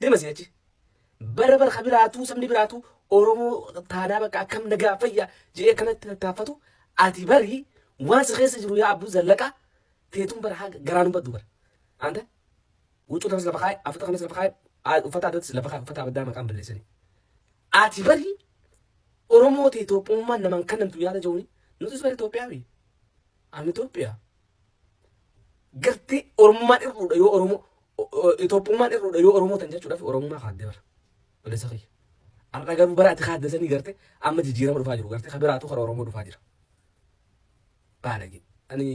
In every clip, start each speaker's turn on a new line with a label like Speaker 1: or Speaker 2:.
Speaker 1: Dirma isin achi. Bara bara ka biraatuu sabni biraatuu Oromoo taanaa bakka akkam nagaa fayya jedhee kanatti tattaaffatu ati bari waan si keessa jiru yaa abbuu zallaqa teetuun bara haga garaa nu baddu bara. Anta huccuu tanas lafa kaa'e afata kanas lafa kaa'e aal- uffata addatis lafa kaa'e uffata addaa maqaan balleessanii. Ati bari Oromoo ta'e Itoophummaan namaan kannamtu yaada jechuun nutis bari Itoophiyaa miti. Ani Itoophiyaa. Gartee Oromummaan irruudha yoo Oromoo Itoophummaan irruudha yoo Oromoo tan jechuudhaaf Oromummaa kaadde bara. Balleessa kiyya. Har'a garuu bara ati kaadde sanii garte amma jijjiirama dhufaa jiru garte kan biraatu karaa Oromoo dhufaa jira. Baalage. Ani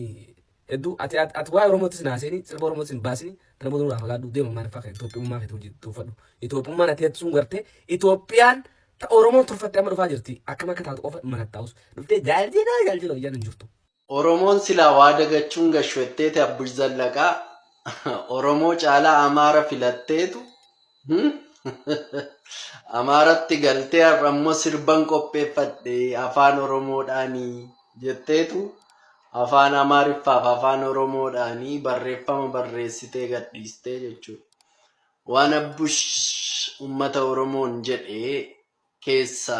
Speaker 1: hedduu ati ati waa'ee Oromootti sin haaseenii sirba Oromootti sin baasinii kana booda nurraa fagaadhu deema maal fakkata Itoophummaa keetti hojii tuuffadhu. Itoophummaan ati jettu sun garte Itoophiyaan ta Oromoon turfatte amma dhufaa jirti akkam akka taatu qofa manattaa'us dhuftee jaaljina jaaljina hojjaan hin jirtu. Oromoon silaa
Speaker 2: waa dagachuun gashwetteeti Abbush Zallaqaa Oromoo caalaa Amaara filatteetu Amaaratti galtee har'a immoo sirban qopheeffadhe afaan Oromoodhaani jetteetu afaan Amaariffaaf afaan Oromoodhaani barreeffama barreessitee gadhiistee jechuudha. Waan Abbush ummata Oromoon jedhe keessa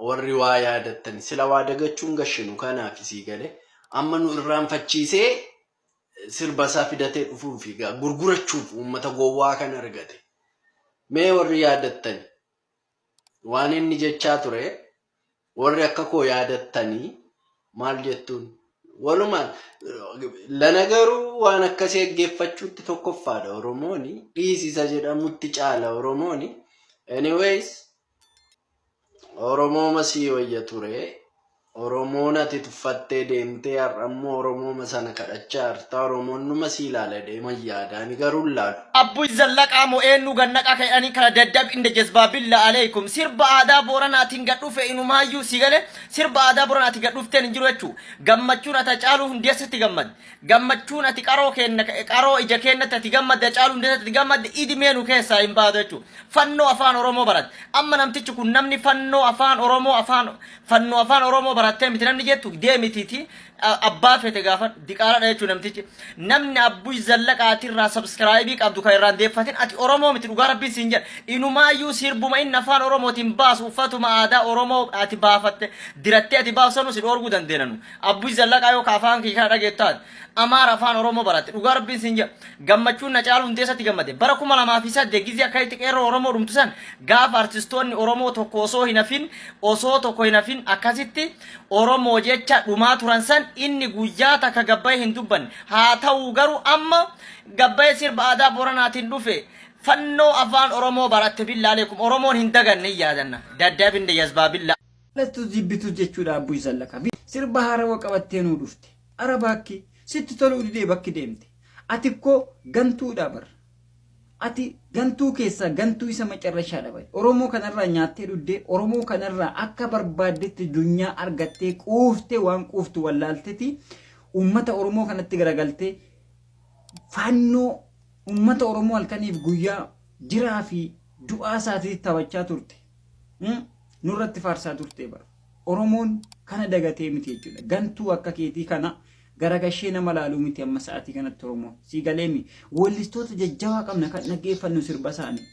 Speaker 2: warri waa yaadattan sila waa dagachuun gashinu kanaafi sii gale amma nu irraanfachiisee sirba isaa fidatee dhufuufi gaa gurgurachuuf uummata gowwaa kan argate mee warri yaadattani waan inni jechaa ture warri akka koo yaadattanii maal jettuun walumaan lana garuu waan akkasii dhaggeeffachuutti tokkoffaadha oromooni dhiisisa jedhamutti caala oromooni anyways oromooma sii wayya ture oromoon ati tuffattee deemtee har'ammoo oromooma sana kadhachaa jirta oromoon numa sii ilaala deema yaadaani garuu hin laalu Abbuy zallaqaa
Speaker 3: moo eenyu gannaqaa ka'edhanii kana daddabi inda jazbaa billa aleekum sirba aadaa booranaatiin gad dhufe inumaayyuu si gale Sirba aadaa Boran ati gad dhufteen hin jiru jechu gammachuun ati Hacaaluu Hundeessatti gammadde gammachuun ati qaroo keenna qaroo ija keennatti ati gammadde Hacaaluu Hundeessatti ati gammadde idimee nu keessaa hin baatu jechu fannoo afaan Oromoo baratte amma namtichi kun namni fannoo afaan Oromoo afaan fannoo afaan Oromoo barattee miti namni jettu deemitiiti abbaa fete gaafadhu diqaaladha jechuu namtichi namni abbuy zallaqa ati irraa sabskraayibii qabdu kan irraan deeffatin ati oromoo miti dhugaa rabbiin siin jedha inumaayyuu sirbuma inni afaan oromootiin baasu uffatuma aadaa oromoo ati baafatte dirattee ati baasu sanuu si dhoorguu dandeenanu abbuy zallaqaa yoo ka afaan kee kana dhageettaat amaara afaan oromoo baratte dhugaa rabbiin siin jedha gammachuun na caalu hundeessatti gammade bara kuma lamaa fi saddeet gizii akka itti qeerroo oromoo dhumtu san gaafa artistoonni oromoo tokko osoo hin hafin osoo tokko hin hafin akkasitti Oromoo jecha dhumaa turan san inni guyyaa takka gabbaye hin dubbanne. Haa ta'uu garuu amma gabbaye sirba aadaa Boranaatiin dhufe fannoo afaan Oromoo baratte billaaleekum Oromoon hin daganne hin yaadanna. Dadhabinne jazbaa billaa. Lastu jibbitu
Speaker 4: jechudha abbu isan laka fi sirba harawa qabatte nu dhufte ara bakki sitti tolu dide bakki demte ati ko gantudha bar. Ati gantuu keessaa gantuu isa macarrashaadha baye. Oromoo kanarraa nyaattee dhuddee, Oromoo kanarraa akka barbaaddetti dunyaa argattee quuftee waan quuftu wallaalteti uummata Oromoo kanatti garagaltee faannoo uummata Oromoo halkaniif guyyaa jiraa fi du'aa isaatiitti taphachaa turte. Hmm? Nurratti faarsaa turtee bara. Oromoon kana dagatee miti jechuudha. Gantuu akka keetii kana garagashee nama laaluu miti amma sa'aatii kanatti Oromoon. Sii galeemi? Weellistoota jajjabaa qabna kan dhaggeeffannu sirba isaanii.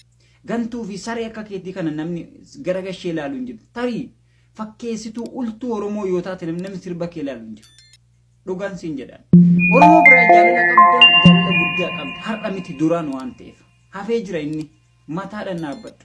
Speaker 4: Gantuu fi saree akka keetii kana namni garagashee laalu hin jiru. Tarii fakkeessituu ultuu Oromoo yoo taate namni namni sirba kee laalu hin jiru. Dhugaan siin jedhaan. Oromoo biraa jaalala qabda, jaalala guddaa qabda. Har'a miti duraan waan ta'eef. Hafee jira inni. Mataadhaan dhaabbadhu.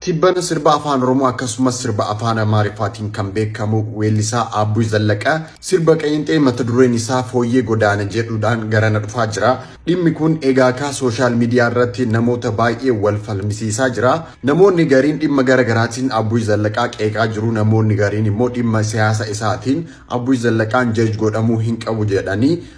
Speaker 4: Tibbana
Speaker 5: sirba Afaan Oromoo akkasumas sirba Afaan Amaariffaatiin kan beekamu weellisaa Aabbuy Zallaqa sirba qeenxee mata dureen isaa Fooyyee Godaane jedhuudhaan garana dhufaa jira. Dhimmi kun egaa kaa sooshaal miidiyaa irratti namoota baay'ee wal falmisiisaa jira. Namoonni gariin dhimma gara garaatiin Aabbuy Zallaqaa qeeqaa jiru, namoonni gariin immoo dhimma siyaasa isaatiin Aabbuy Zallaqaan judge godhamuu hin qabu jedhanii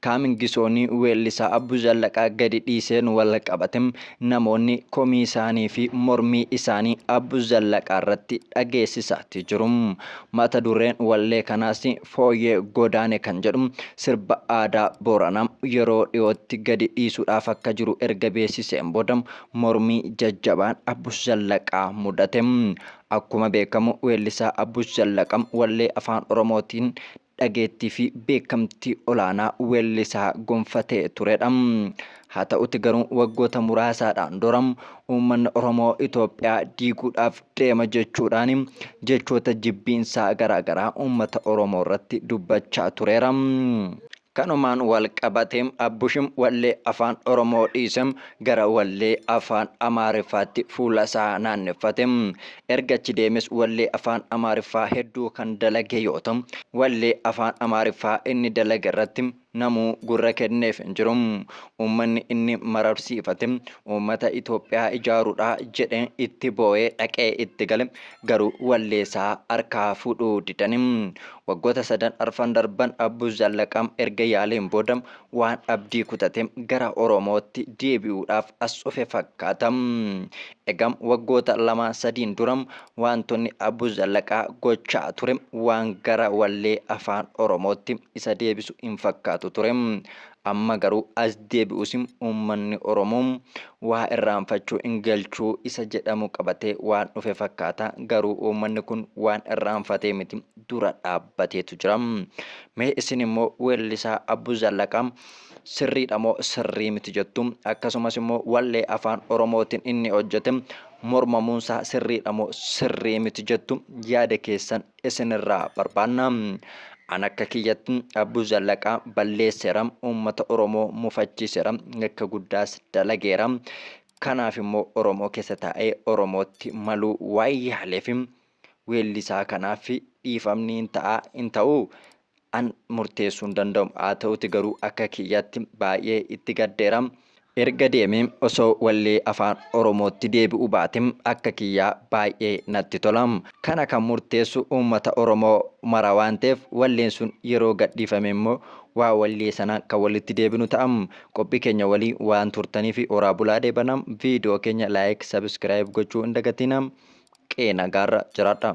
Speaker 6: Kaamingisoon weellisaa Abbuu Zallaqaa gadi dhiiseen wal qabate namoonni komii isaanii fi mormii isaanii Abbuu Zallaqaa irratti dhageessisaati jiru. Mata dureen wallee kanaas Fooyyee Godaane kan jedhu sirba aadaa Booranaa yeroo dhiyootti gadi dhiisuudhaaf akka jiru erga beeksiseen booda mormii jajjabaan Abbuu Zallaqaa mudate. Akkuma beekamu weellisaa Abbuu Zallaqaa wallee Afaan Oromootiin dhageettiifi beekamtii olaanaa weellisaa gonfatee turedha. Haa ta'uti garuu waggoota muraasaadhaan dura uummanni Oromoo Itoophiyaa diiguudhaaf deema jechuudhaan jechoota jibbiinsaa garaagaraa uummata Oromoo irratti dubbachaa tureera. Kanumaan walqabatee Abbush wallee Afaan Oromoo dhiisee gara wallee Afaan Amaariffaatti fuulasaa naanneffate. Erga achi deemes wallee afaan Amaariffaa hedduu kan dalage yoo ta'u, wallee afaan Amaariffaa inni dalage irratti namuu gurra kenneef hin jiru. Uummanni inni mararsiifate uummata Itoophiyaa ijaaruudha jedhee itti boo'ee dhaqee itti gale garuu wallee isaa harkaa fuudhuu didani. Waggoota sadan arfan darban Abbuu Zallaqaam erga yaaleen booda waan abdii kutate gara Oromootti deebi'uudhaaf as dhufe fakkaata. Egam waggoota lama sadiin dura waantonni Abu Zallaqaa gochaa ture waan gara wallee Afaan Oromootti isa deebisu hin fakkaatu ture. Amma garuu as deebi'us uummanni Oromoo waa irraanfachuu hin galchu isa jedhamu qabatee waan dhufe fakkaata. Garuu uummanni kun waan irraanfatee miti dura dhaabbateetu jira. Mee isin immoo weellisaa Abu Zallaqaa sirriidha moo sirrii miti jettu? Akkasumas immoo wallee afaan Oromootiin inni hojjete mormamuunsaa sirriidha moo sirrii miti jettu? Yaada keessan isinirraa barbaanna. An akka kiyyatti Abbuu Zallaqaa balleesseera, uummata Oromoo mufachiiseera, yakka guddaas dalageera. Kanaaf immoo Oromoo keessa taa'ee Oromootti maluu waan yaaleef weellisaa kanaaf dhiifamni hin ta'a hin ta'uu? an murteessuu hin danda'u haa ta'uti garuu akka kiyyatti baay'ee itti gaddeera erga deeme osoo wallee afaan oromootti deebi'u baate akka kiyyaa baay'ee natti tola kana kan murteessu uummata oromoo mara waan ta'eef walleen sun yeroo gadhiifame immoo waa wallee sana kan walitti deebinu ta'a qophii keenya walii waan turtanii fi oraa bulaa deebana viidiyoo keenya laayik sabiskiraayib gochuu hin dagatina qeena gaarra jiraadha.